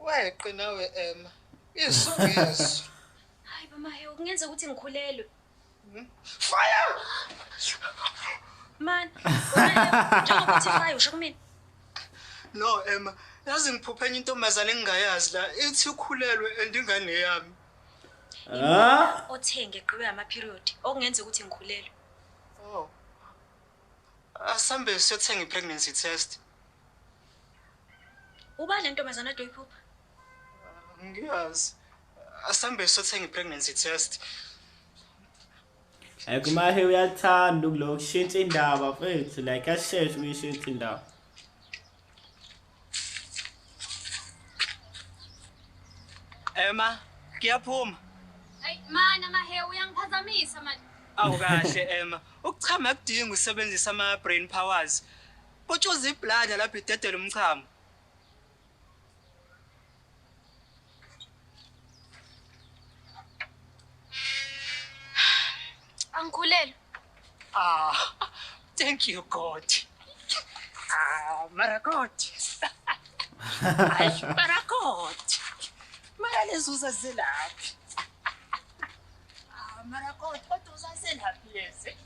Weqe nawe Emma. Isu ngesu. Hayi mama he kungenza ukuthi ngikhulelwe. Hmm? Fire! Man, njengoba uthi fire usho kumina. No Emma, yazi ngiphuphe enye intombazane engingayazi la ithi ukhulelwe and ingane yami. Ah? Othenge qhiwe ama period okungenza ukuthi ngikhulelwe. Oh. Asambe siyothenga i pregnancy test. Ubani lentombazana ade uyiphupha? Ngiyazi. Asambe sothenge pregnancy test. Like umahe uyathanda ukulo kushintsha indaba mfethu like asheshe ukuyishintsha indaba. Emma, ngiyaphuma. Ay mana mahe uyangiphazamisa manje. Awu kahle Emma, ukuchama kudinga usebenzisa ama brain powers. Utshuza iblada lapho idedela umchamo. Angikhulelwe. Ah, thank you God. Ah, mara God. Ay, mara God. Mara lezuza zelaphi. Ah, mara God, kodwa uzazelaphi lezi?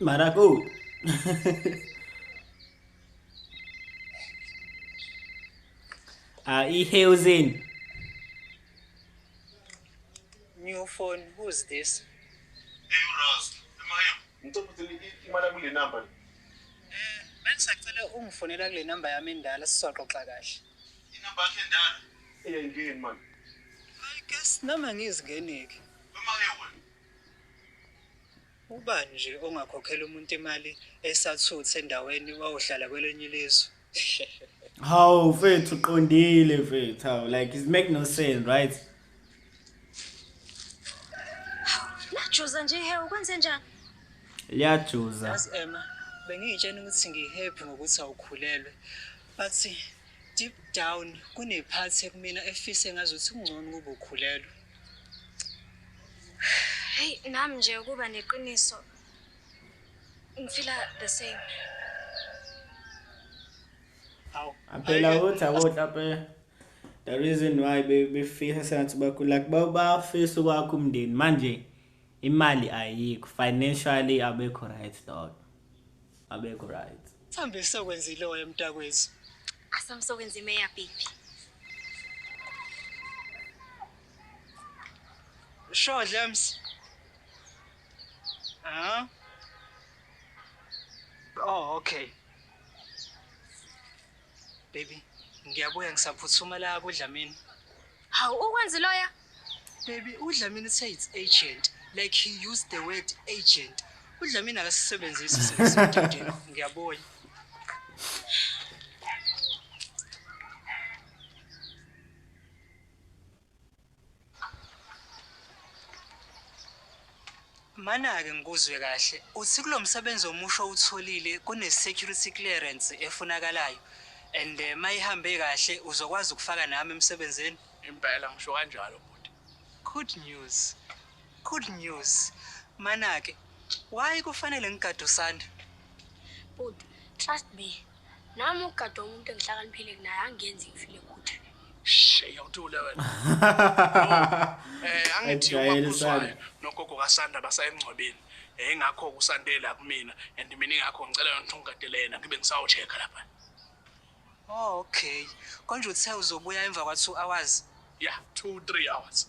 Maracu. ah, i-housing. New phone, who's this? Ngicela ukuthi imali kule number. Eh, bengisacela ungifonela kule number yami endala sizoxoxa kahle. Inamba yakhe endala. Yeyini man. I guess nami angizingeneki. Uma ke wena. Ubani nje ongakhokhela umuntu imali esathuthe endaweni wawuhlala kwelenye ilizwe. Hawu mfethu uqondile mfethu. Hawu like it make no sense, right? Lajuza nje he ukwenze njani? Liyajuza. Yazi Emma, bengiyitshena ukuthi ngihappy ngokuthi awukhulelwe. But Deep down kune part ekumina efisa engazuthi kungcono ukuba ukhulelwe. Hey nami nje ukuba neqiniso ngifila the same. Aw. Aphela uthi awotla pe. The reason why befisa sengathi bakhula bafisa ukwakha umndeni manje imali ayikho financially abekho right dog. abekho right Sambe sokwenzile oya emntakwethu. Asamsokwenza imeya baby. Sure James. Ah. Oh okay. Baby, ngiyabuya ngisaphuthuma la kuDlamini. Hawu ukwenzi loya? Baby, uDlamini say it's agent. Like he used the word agent. UDlamini akasisebenzisi sesithandini. Ngiyabuya. Manake ngikuzwe kahle. Uthi kulo msebenzi omusha owutholile kune-security clearance efunakalayo and eh, uma ihambe kahle uzokwazi ukufaka nami emsebenzini? Impela ngisho kanjalo bhuti. Good news. Good news. Manake, why kufanele ngigade uSanda? Bhuti, trust me. Nami ukugada umuntu engihlakaniphile kunaye angenzi ngifile kuthi. Shey awuthule wena. Eh angithi ubakhuzwayo nogogo kaSanda basayemngcwabeni. Eh ngakho kusandela kumina and mina ingakho ngicela yona ungigadelena ngibe ngisawu check lapha. Oh okay. Konje uthe uzobuya emva kwa 2 hours? Yeah, 2 3 hours.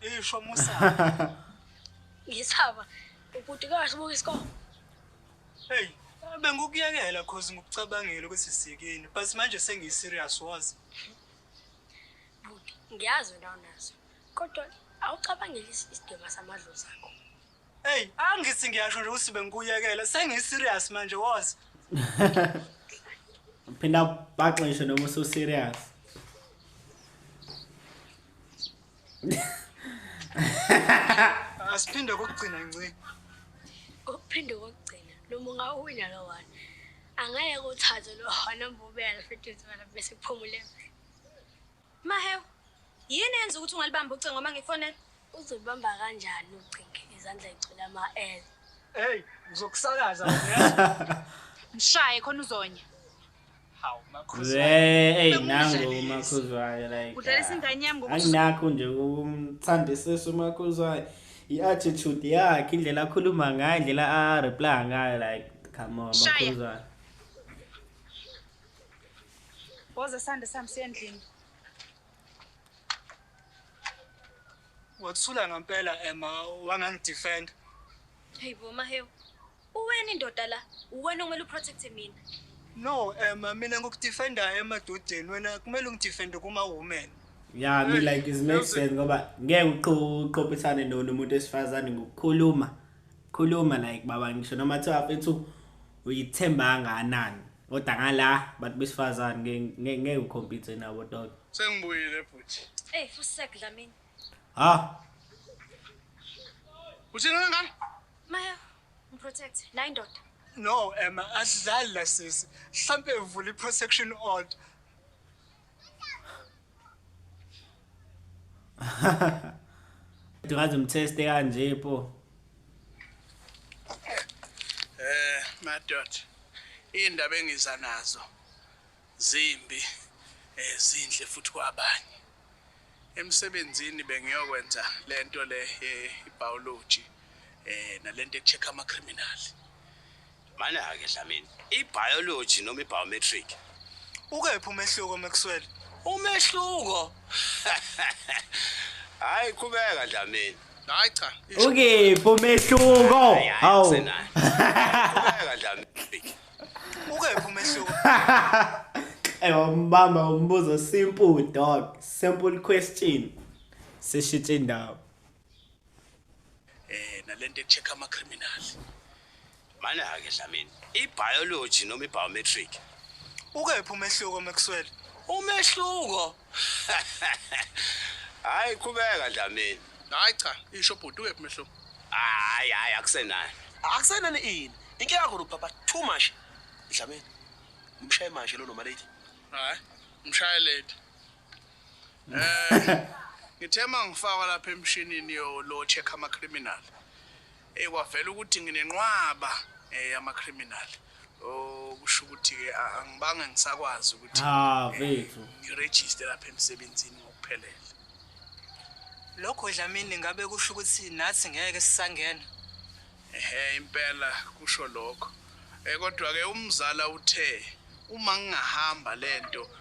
Isho musa. Ngisaba ubhuti kahle buka isikole. Hey, bengikuyekela cause ngikucabangile ukuthi sikini but manje sengiyi serious wazi. Bhuti, ngiyazi wena unazo. Kodwa awucabangeli isidima samadlozi akho. Hey, angithi ngiyasho nje ukuthi bengikuyekele. Sengi serious manje was. Phinda baxishe noma usu serious. Asiphinde kokugcina nci. Kokuphinde kokugcina noma ungawina lo one. Angeke uthathe lo one mbubela futhi bese kuphumule. Mahewu, yini eyenza ukuthi ungalibambi ucingo uma ngifonela? Uzolibamba kanjani ucingo izandla yigcwele ama-L? Hey, ngizokusakaza wena uyazi. Mshaye khona uzonya. Hawu makhosi. Hey, nangu umakhuzwayo like. Udlalisa ah, ingane yami ngokuthi anginakho nje ukumthandisisa umakhuzwayo. I-attitude yakhe, indlela akhuluma ngayo, indlela a-reply ngayo like come on makhuzwayo. Woza sande sami siye endlini. Wathula ngempela Emma wangangidefend. Hey bo Mahewu. Uwena indoda la, uwena okumele uprotecte mina. No Emma, mina ngikudefenda emadodeni wena kumele ungidefende kuma women. Yeah, I mean like it makes sense ngoba ngeke uqophisane nomuntu esifazane ngokukhuluma. khuluma like baba ngisho noma kuthiwa mfethu uyithemba kangakanani kodwa ngala bantu besifazane ngeke ukhompithe nabo dog sengibuyile bhuti hey fusek dlamini ha uthini wena ngane maya ngiprotect nayi ndoda no ema asidlali la sisi mhlampe uvula i-protection order Ngaze mtheste kanje po. Eh madod indaba engiza nazo zimbi ezinhle eh, futhi kwabanye. Emsebenzini bengiyokwenza lento le eh, ibiology eh nalento echeck ama criminal. Mana-ke Dlamini, i-biology noma i-biometric? Ukephi umehluko Maxwell? Umehluko? Hhayi qhubeka Dlamini. Hayi cha. Ukephi umehluko? Hawu. Qhubeka Dlamini. Ukephi umehluko? Eyombamba umbuzo simple dog, simple question. Sishitshe indawo. Eh nalento echeck ama criminal. Mana ke Dlamini, i biology noma i biometric. Ukephi umehluko Maxwell? Umehluko. Hayi qhubeka Dlamini. Hayi cha, isho bhuti ukephi umehluko? Hayi hayi akusenayo. Akusenani ini? Inke yakho lo papa too much. Dlamini. Umshaye manje lo noma lady. Hayi, mshaye lady. Eh ngithe mangifaka lapha emshinini yo lo check ama criminal. Eh kwavela ukuthi nginenqwaba eh ama criminal. Oh kusho ukuthi ke angibange ngisakwazi ukuthi ha eh, vethu ngiregister lapha emsebenzini ngokuphelele. Lokho Dlamini ngabe kusho ukuthi nathi ngeke sisangena. Ehhe impela kusho lokho. Eh kodwa ke umzala uthe uma ngingahamba lento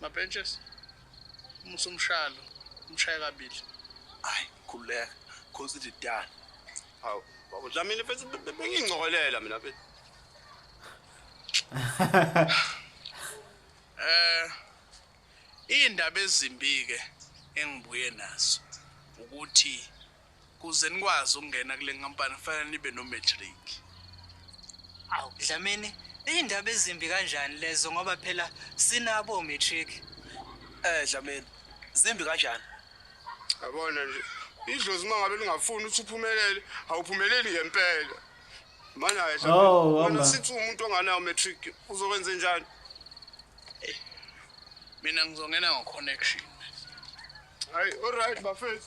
Mabenches. Umusa umshalo, umshaya kabili. Hayi, khuleka. Khosi ithi dala. Hawu, baba Dlamini bese bengingcokolela mina bese. Eh indaba ezimbi ke engibuye nazo ukuthi Kuze nikwazi ukungena kule nkampani kufanele nibe no-matric. Awu, Dlamini, iy'ndaba ezimbi kanjani lezo ngoba phela sinabo o-matric. Eh Dlamini, zimbi kanjani? Yabona nje, idlozi uma ngabe lingafuni ukuthi uphumelele, awuphumeleli ngempela. Mana ke Dlamini, Oh, wena hamba. sithi umuntu onganayo matric uzokwenze njani? Mina ngizongena ngo-connection. Hayi, alright bafethu.